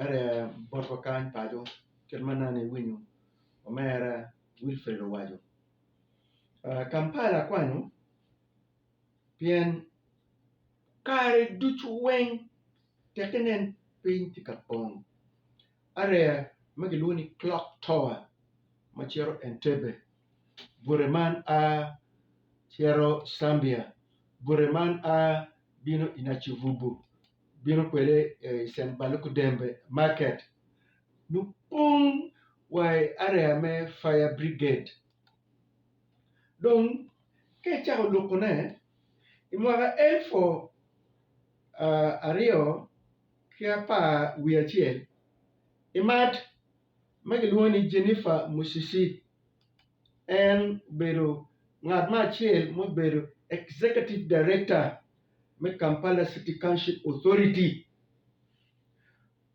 Ento bot wakany paco kit ma nongo iwinyo omera Wilfred owaco, Kampala akwanyo pien kare ducu weng tek inen piny tye ka pong area ma kilwongo ni clock tower ma cito Entebbe, bute man a cito Cambia, bute man a bino i Nacivubu. bino kwede i San Balukudembe market nongo pong wa i area me fire brigade dong ka icako lukone i mwaka elufu aryo ki apar wiye acel i mat ma kilwongo ni Jennifer Musisi en obedo ngat me acel mubedo executive director me Kampala City Township Authority,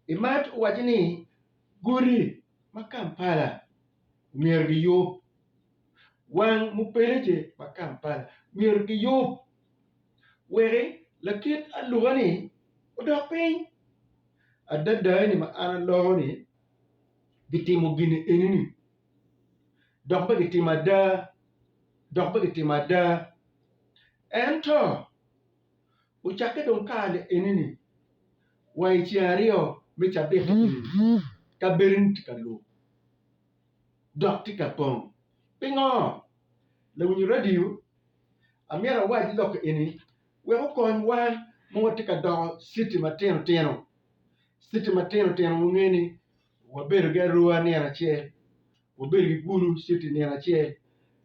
Imat owaco ni godi ma Kampala myero giyub, wang mupeleje ma Kampala myero giyub weki lakit aluka-ni odok piny. Adada ni ma an aloko ni gitimo gin eni-ni dok pe gitimo ada, dok pe gitimo ada. Ento ocakke dong kare enini wa i ceng aryo me cabit kabedoni tye ka lub dok tye ka pong. Pingo? Lawinyo radio amyero awac lok eni wek okonywa ma watye ka doko citi matino tino, citi matino tino wunge ni. Wabedo ki arua nino acel, wabedo ki gulu citi nino acel,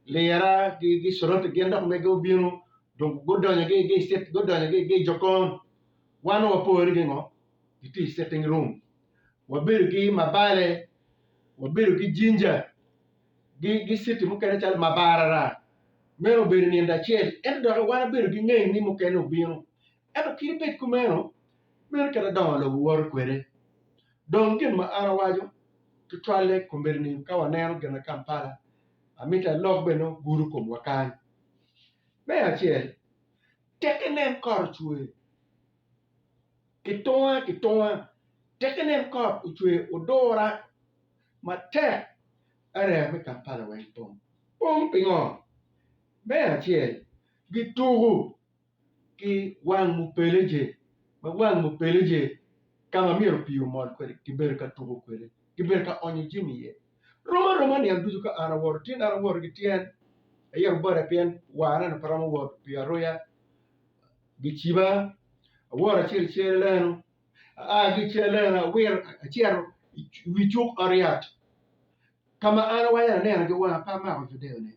lira ki curote gin dok mege obino dong gudonyo ki i cit gudonyo ki i jokon, wan dong wapo ni gingo gitye i citing rum, wabedo ki mabale, wabedo ki jinja ki citi mukene calo mabarara, meno obedo nino acel ento dok wan wabedo ki ngeny ni mukene obino ento kit bed kumeno meno kit adongo lobo woto kwede. Dong gin ma an awaco tutwalle komedi ni ka waneno gina Kampala, amito alok bene ogudo komwa kany. Me acel, tek inen kot ocwer kitunga kitunga, tek inen kot ocwer odura matek area me Kampala weng pong. Pong pingo? Me acel, gituku. ki wang mupeleje ma wang mupeleje ka ma myero pii omol kwede kibedo ka tuko kwede, kibedo ka onyo jami iye. Rom aroma niang ducu ka an awoto tyen an awoto ki tyen aye Rubota pien warra ni pe romo wot pi aruya giciba awoto acito i Ceroleno aa ki i Ceroleno awito acito i wi cuk ot yat. Ka ma an awaco ni aneno ki wanga pe amako video-ni,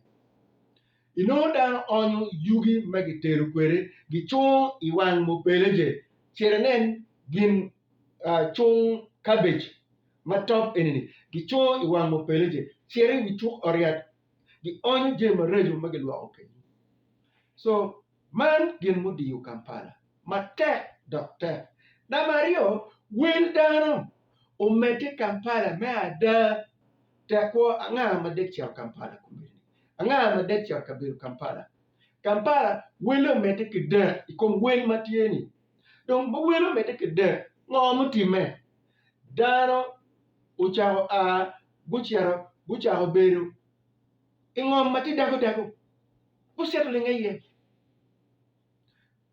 inongo dano onyo yugi ma gitero kwede gicungo i wang mubeleje. Cit inen gin cung kabej ma top eni-ni, gicungo i wang mubeleje. Cit i wi cuk oriat, gionyo jami maraco ma gilwoko kenyu. Man gin mudiyo Kampala matek dok tek. Namba aryo, wel dano omedde i Kampala me ada. Tekwor anga ma dek cito Kampala? Anga ma dek cito kabedo Kampala? Kampala welle omedde ki dek i kom wel ma tye ni. Dong ma wel omedde ki dek, ngo mutimme? Dano ocako a gucito gucako bedo. i ngom ma tye dago dago, gucito linge iye.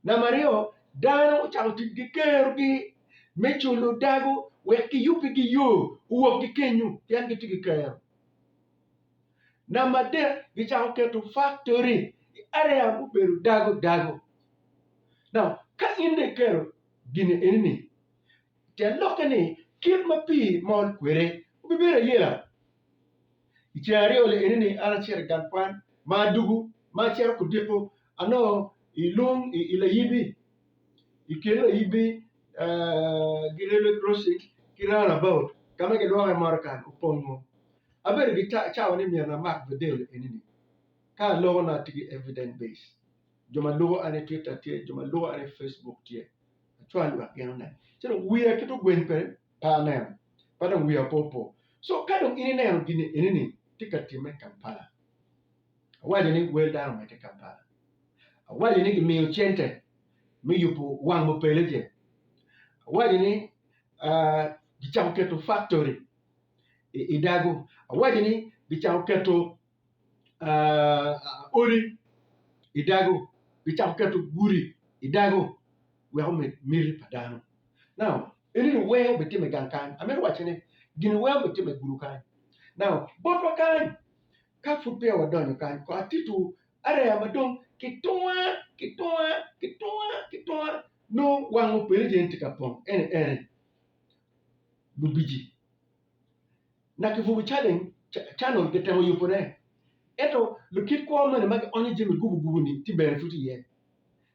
Namba aryo, dano ocako tic ki kerogi me culo dago wek giyubbigi yo owok ki kenyu pien gitye ki kero. Namba adek, gicako keto faktori i area mubedo dago dago. Now, ka in dong ikero gine eni ni, te lokke ni kit ma pii mol kwede obibedo ayela. I ceng aryo lienini an acito i gang kwan ma adugu ma acito ku diko anongo i lung i layibi i kin layibi gi railway crossing ki round about ka ma gilwongo ni motorcar opongo abedo ki cawa ni myero amak video lienini ka aloko nongo atye ki evidence base jo ma lubo an i twitter tye jo ma lubo an i Facebook tye acwal lok gin oneno ci dong wiya twero gweng kwede. pa aneno pa dong wiya pe opo so ka dong in ineno gini eni ni tye ka timme i Kampala awaco ni wel dano omedde i Kampala awaco ni gimiyo cente me yubo wang mupeleje awaco ni uh, gicako keto factory i, i dago awaco ni gicako keto uh, odi i dago gicako keto gudi i dago weko med miti pa dano now Ento ni wee obed tye me gang kany, amito waco ni gini wee obed tye me gudo kany. Now, botwa kany, ka pud peya wadonyo kany, ko atitu areya ma dong kitunga, kitunga, kitunga, kitunga, nongo wango pele je ni tye ka pong, ene, ene, Lubici. Na kibubo challenge, cha, channel gitemo yubo ne, ento lukit kwo mene ma gionyo jami gubu gubu ni tye bene tut iye.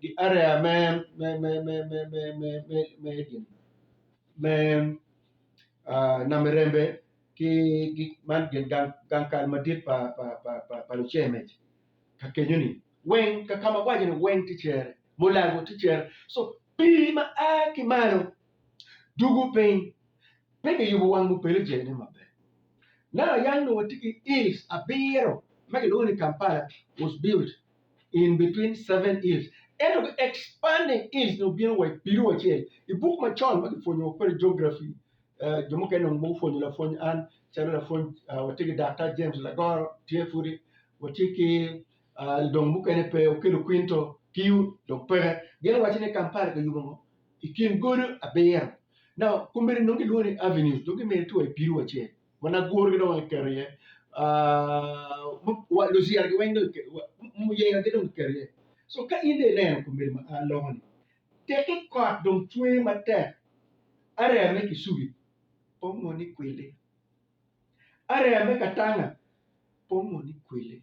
Giareya me gin me nam irembe ki man gin gang kal madit pa luceme ka kenyo ni weng ka ka ma waco ni weng tye cere mulago tye cere so pii ma a ki malo dugo piny pe ki yubo wang mupele je ne maber now yang dong watye ki hills abiro ma kilwongo ni kampala was built in between seven hills. Ento ki expanding hills nyo bino wa ibido wacel i buk macon ma kipwonyo wa kwede geography uh, jo mukene onongo gupwonyo lapwony an calo lapwony uh, watye ki Daktar James Lagoro tye pudi watye ki uh, dong mukene pe Okello Quinto tiyo dong peke gin waco ni Kampala kiyubo ngo i kin godo abiro now komedi nongo gilwongo ni avenues dong gimede tye wa ibido wacel Wan agurgi dong kiketo iye. Luciragi weng dong muyengagi dong kiketo iye. So ka in dong ineno komiti ma lokoni, teki kot dong cwer matek area me Kisubi pe onongo ni kwili, area me Katanga pe onongo ni kwili,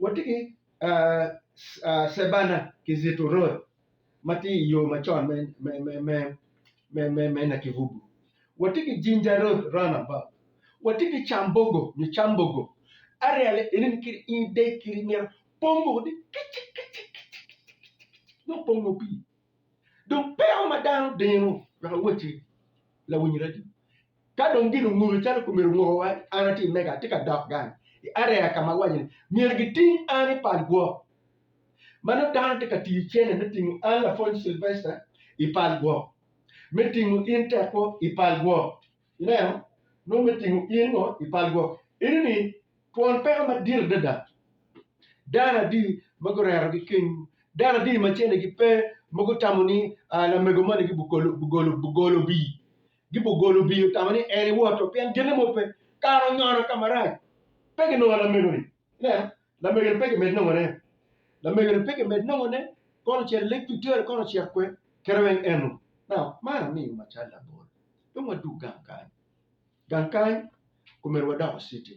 Watye ki Cebana ki Ziturun ma tye i yo macon me Nakivubo. Watye ki Jinja Road Roundabout. Watye ki Cambogo nyo Cambogo. Aryale eni ni kiri in ideg kiri myero pongo wadi kicik kicik kicik kicik kicik nyo pongo pii. Dong peko ma dano dino wek awot ki lawiny radio. Ka dong gin ongulo calo pe myero onguko wa, an atye i Mega, atye ka dok gang i area ka ma awaco ni myero giting an i pal gwok. Ma nongo dano tye ka tiyo cente me tingo an lapwony Sylvester i pal gwok, me tingo in Tekwo i pal gwok. Ineno? Nongo me tingo in ngo i pal gwoki. Eni ni, twon peko madit adada. Dano adi ma gurero gi kenywu? Dano adi ma cene gi pe ma gutamo ni lamego moni gi bugolo bugolo bugolo bii? Gi bugolo bii otamo ni en iwoto pien genne mo pe. Kara onyono ka marac. Pe ginongo lamego ni. Ineno? Lamego ni pe gimed nongo ne. Lamego ni pe gimed nongo ne. Kono ocito i Lake Victoria kono ocito kwe. Kite weng eno. Now, man amiyo macalo labol. dong wadug gang kany. Gang kany omyero wadoko citi,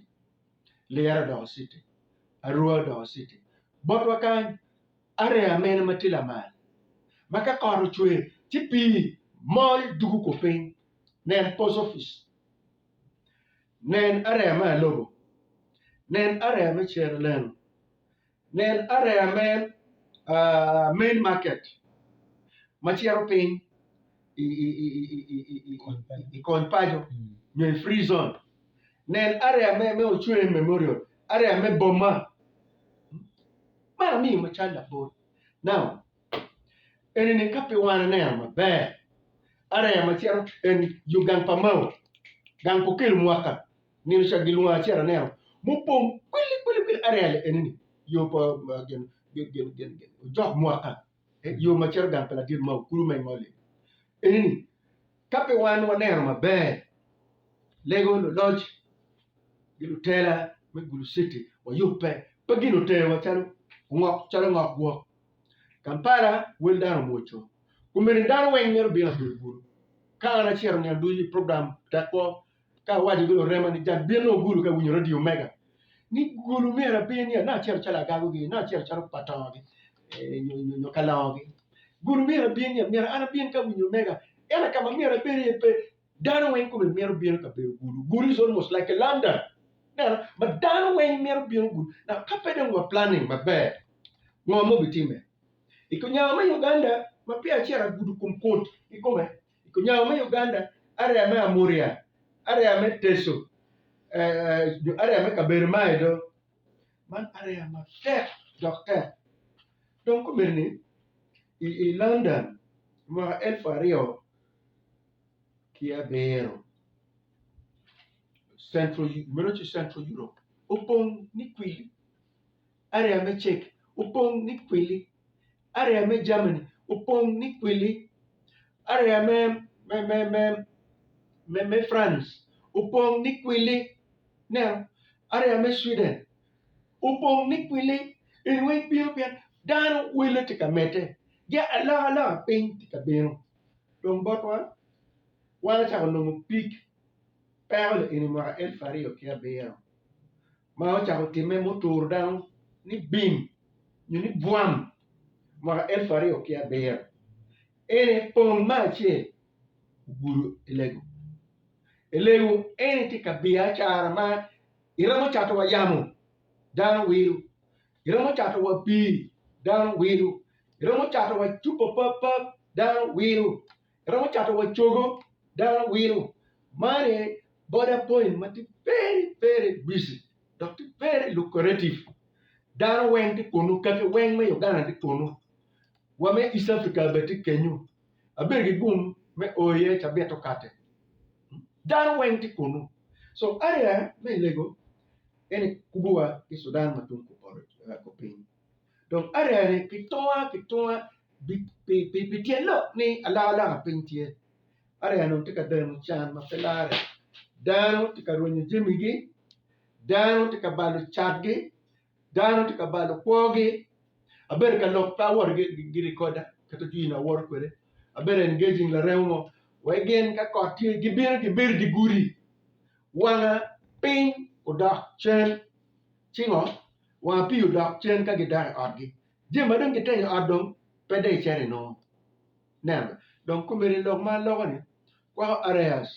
liyere odoko citi, arua odoko citi. Botwa kany, areya mene ma tye lamal ma ka kot ocwe ci pii mol dugo ko piny? Nen post office, nen areya me alobo, nen areya me cere leno, Nen areya me Main Market ma cito piny i kony paco nyo i Free Zone. Nen areya me Ochwem Memorial, areya me boma. Man amiyo macalo labol. Now, enini ka pi wan aneno maber, areya ma cito en yo gang pa Mao, gang pa Okello mwaka. Nino ca gilwongo acel aneno mupong kwili kwili kwili arel eni ni yo pa gin gin gin gin gin ojok mwaka eh, yo ma cito gang pa ladit ma okulu ma ingole eni ni ka pe wan waneno maber lego luloc gi lutela me gulu city wayubbe pe gin otewa calo ongok calo ngok gwok Kampala wel dano omwoco kumeni dano weng myero obin abedo gulu ka an acito nino ducu program tek kwo Ka awaco gin orema ni jal bino ogulu ka ewinyo radio mega ni gulu myero abin ya nongo acito calo agago gi nongo acito calo patongo gi nyo kalongo gi gulu myero abin ya myero an abin ka awinyo mega ento kama myero abin aye pe dano weng kome mito bino ka bedo gulu gulu is almost like a London ineno ma dano weng mito bino gulu now ka pe dong wa planning maber ngo ma obitime I ko nyango me Uganda ma peya acito agudo kom koti ikome I kunyago me Uganda, area me Amuria, area me Teso, nyo area me kabedo ma aye do, man area matek dok tek. Dong kombeddi ni i London i mwaka elfu aryo ki abiro, Central Europe opong ni kwili. Area me Czech opong ni kwili. Area me Germany opong ni kwili. Area me France opong ni kwili. Ineno? Area me Sweden opong ni kwili. Eni weng bino pien dano wele tye ka medde. Gia alokaloka piny tye ka bino. Dong botwa, wan acako nongo pig peko lieni mwaka elufu aryo ki abiro. ma ocako timme ma oturo dano ni bim nyo ni bwam mwaka elfu aryo ki abiro, en aye pong me acel ogudo i lego. I lego eni tye ka biya acara ma iromo cato wa yamo, dano wilo, iromo cato wa pii, dano wilo, iromo cato wa cupa papap, dano wilo. Iromo cato wa cogo dano awino mani boda point ma tye very very busy dok tye very lucrative dano weng tye kunu kaki weng me Uganda tye kunu wa me East Africa bene tye kenyu abedo ki gum me o iye ci abito kate dano weng tye kunu so area me Lego ene kubuwa ki Sudan ma tung kupoto kupiny. dong aryani ki tunga ki tunga pi tyen lok ni alokaloka piny tye, aryani tye ka dano can ma pe lare, dano tye ka rwenyo jamigi, dano tye ka balo catgi, dano tye ka balo kwogi, abedo ka lok pe awoto ki rikoda kit jami ma awoto kwede, abedo engaging laremo mo wek gin ka kot tye gibino gibedo i dye gudi wanga piny odok cen ci ngo. wa apiyo odok cen ka gidok i otgi. Jami ma dong gitenyo i ot dong pe dong iceno i nongo. Neno dong komedi i lok ma aloko ni, kwako areas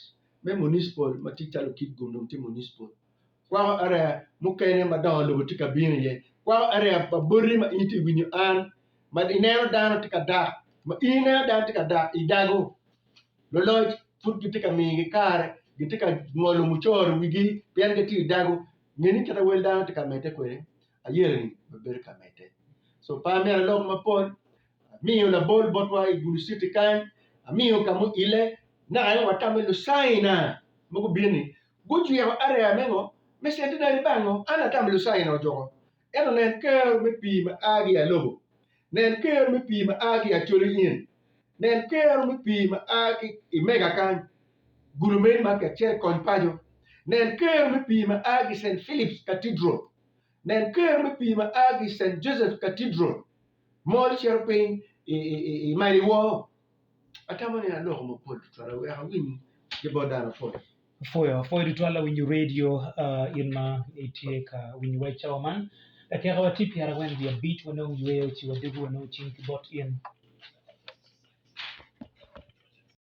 me municipal ma tye calo Kitgum dong tye municipal, kwako area mukene ma dongo lobo tye ka bino iye, kwako area pa boti ma in itye winyo an ma ineno dano tye ka dak ma in ineno dano tye ka dak i dago. Loloc pud gitye ka migi kare gitye ka ngolo mucoro wigi pien gitye i dago Nge ni kit ma wel dano tye ka medde kwede, ayereni bene bedo ka medde. So pe amito alok mapol, amiyo labol botwa i Gulu Citi kany, amiyo ka muile, naka en watame Lucaina ma gubino-ni gucwiko areya me ngo? Me centenary bang ngo? An atamo Lucaina ojuko. Ento nen kero me pii ma a ki i alobo, nen kero me pii ma a ki i acoli in, nen kero me pii ma a ki i mega kany, gulu meno man kacel kony paco, nen kero me pii ma a ki i Saint Philip's Cathedral, nen kero me pii ma a ki i Saint Joseph's Cathedral, mol cito piny i mail iwoo. Atamo ni aloko mapol tutwal wek awiny ki bot dano pol. Apwoyo apwoyo tutwal awinyo radio in ma itye ka winyo wa i cawa man kakeko wa tye pyera weng wiya bit wanong yweyo ci wadugu wanong cing ki bot in